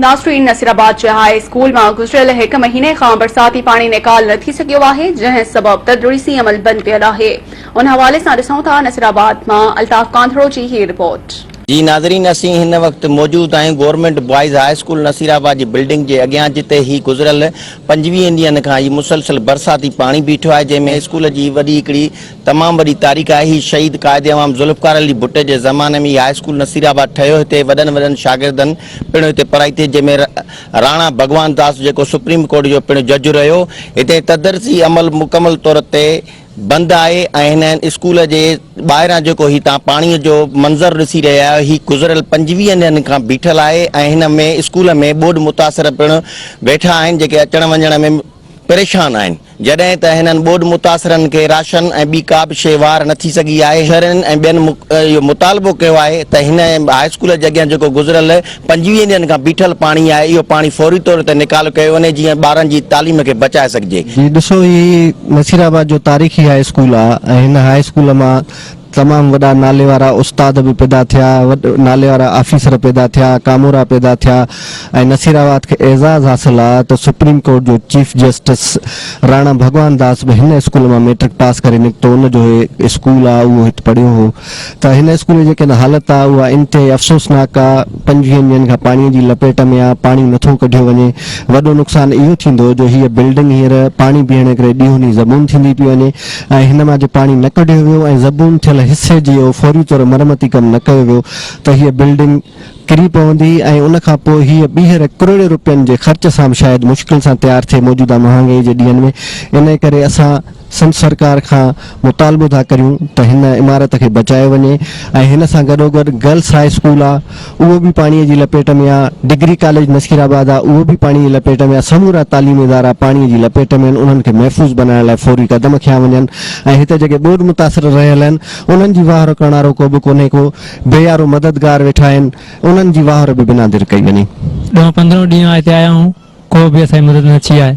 ناصرين نصيرآباد جي high school مان گذريل هڪ مهيني کان برساتي پاڻي نيڪال نه ٿي سگهيو آهي جنهن سبب تدريسي عمل بند پيل آهي ان حوالي سان ڏسون ٿا نصيرآباد مان الطاف ڪانڌڙو جي هي رپورٽ. جي ناظرين اسين هن وقت موجود آهيون government boys high school Naseerabad جي بلڊنگ جي اڳيان جتي هي گذريل پنجويهه ڏينهن کان هي مسلسل برساتي پاڻي بيٺو آهي جنهن ۾ اسڪول جي وڏي هڪڙي تمام وڏي تاريخ آهي هي شهيد قائد عوام ذوالفقار علي ڀٽي جي زماني ۾ هي هاء اسڪول نصير آباد ٺهيو هتي وڏن وڏن شاگردن پڻ هتي پڙهائي ٿي جنهن ۾ راڻا ڀڳوان داس جيڪو سپريم ڪورٽ جو پڻ جج رهيو هتي تدرسي عمل مڪمل طور تي بند آهي ۽ هن اسڪول جي ٻاهران جيڪو هي تان پاڻي جو منظر ڏسي رهيا آهيو هي گذريل پنجويهن ڏينهن کان بيٺل آهي ۽ هن ۾ اسڪول ۾ ٻوڏ متاثر پڻ ويٺا آهن جيڪي اچڻ وڃڻ ۾ پريشان آهن. جڏهن ته هنن ٻوڏ متاثرن کي راشن ۽ ٻي ڪا به شيء وهار نه ٿي سگهي آهي، شهرين ۽ ٻين اهو مطالبو ڪيو آهي ته هن هاء اسڪول جي اڳيان جيڪو گذريل پنجويهه ڏينهن کان بيٺل پاڻي آهي اهو پاڻي فوري طور تي نيڪالو ڪيو وڃي جيئن ٻارن جي تعليم کي بچائي سگهجي. جي ڏسو هي نصيرآباد جو تاريخي هاء اسڪول آهي ۽ هن هاء اسڪول مان تمام وڏا ناليوارا استاد به پيدا ٿيا، ناليوارا آفيسر پيدا ٿيا، ڪامورا پيدا ٿيا ۽ نصيرآباد کي اعزاز حاصل آ ته سپريم ڪورٽ جو چيف جسٽس راڻا ڀڳوان داس به هن اسڪول مان ميٽرڪ پاس ڪري نڪتو ان جو هي اسڪول آ اهو هت پڙهيو هو ته هن اسڪول جي جيڪا حالت آ اها انتهائي افسوسناڪ آ پنجويهن ڏينهن کان پاڻي جي لپيٽ ۾ آ پاڻي نٿو ڪڍيو وڃي وڏو نقصان اهو ٿيندو جو هيء بلڊنگ هينئر پاڻي بيهڻ ڪري ڏيهوني زبون ٿيندي پئي وڃي ۽ هن مان جي پاڻي نه ڪڍيو ويو ۽ زبون ٿيل حصي جي او فوري طور مرمتي ڪم نه ڪيو ويو ته هيء بلڊنگ ڪري پوندي ۽ ان کان پوء هيء ٻيهر ڪروڙين روپين جي خرچ سان به شايد مشڪل سان تيار ٿئي موجوده مهانگائي جي ڏينهن ۾ انهي ڪري اسان سنڌ سرڪار کان مطالبو ٿا ڪريون ته هن عمارت کي بچايو وڃي ۽ هن سان گڏوگڏ گرلس هاء اسڪول آ اهو به پاڻي جي لپيٽ ۾ آ، ڊگري ڪاليج نصير آباد آ اهو به پاڻي جي لپيٽ ۾ آ، سمورا تعليمي ادارا پاڻي جي لپيٽ ۾ آهن انهن کي محفوظ بنائڻ لاء فوري قدم کنيا وڃن ۽ هتي جيڪي ٻوڏ متاثر رهيل آهن انهن جي واهر ڪرڻ وارو ڪوبه ڪونهي ڪو بي يارو مددگار ويٺا آهن انهن جي واهر به بنا در ڪئي وڃي. ڏهون پندرهون ڏينهن آء هتي آيو هون ڪو به اسان جي مدد نه ٿي آهي.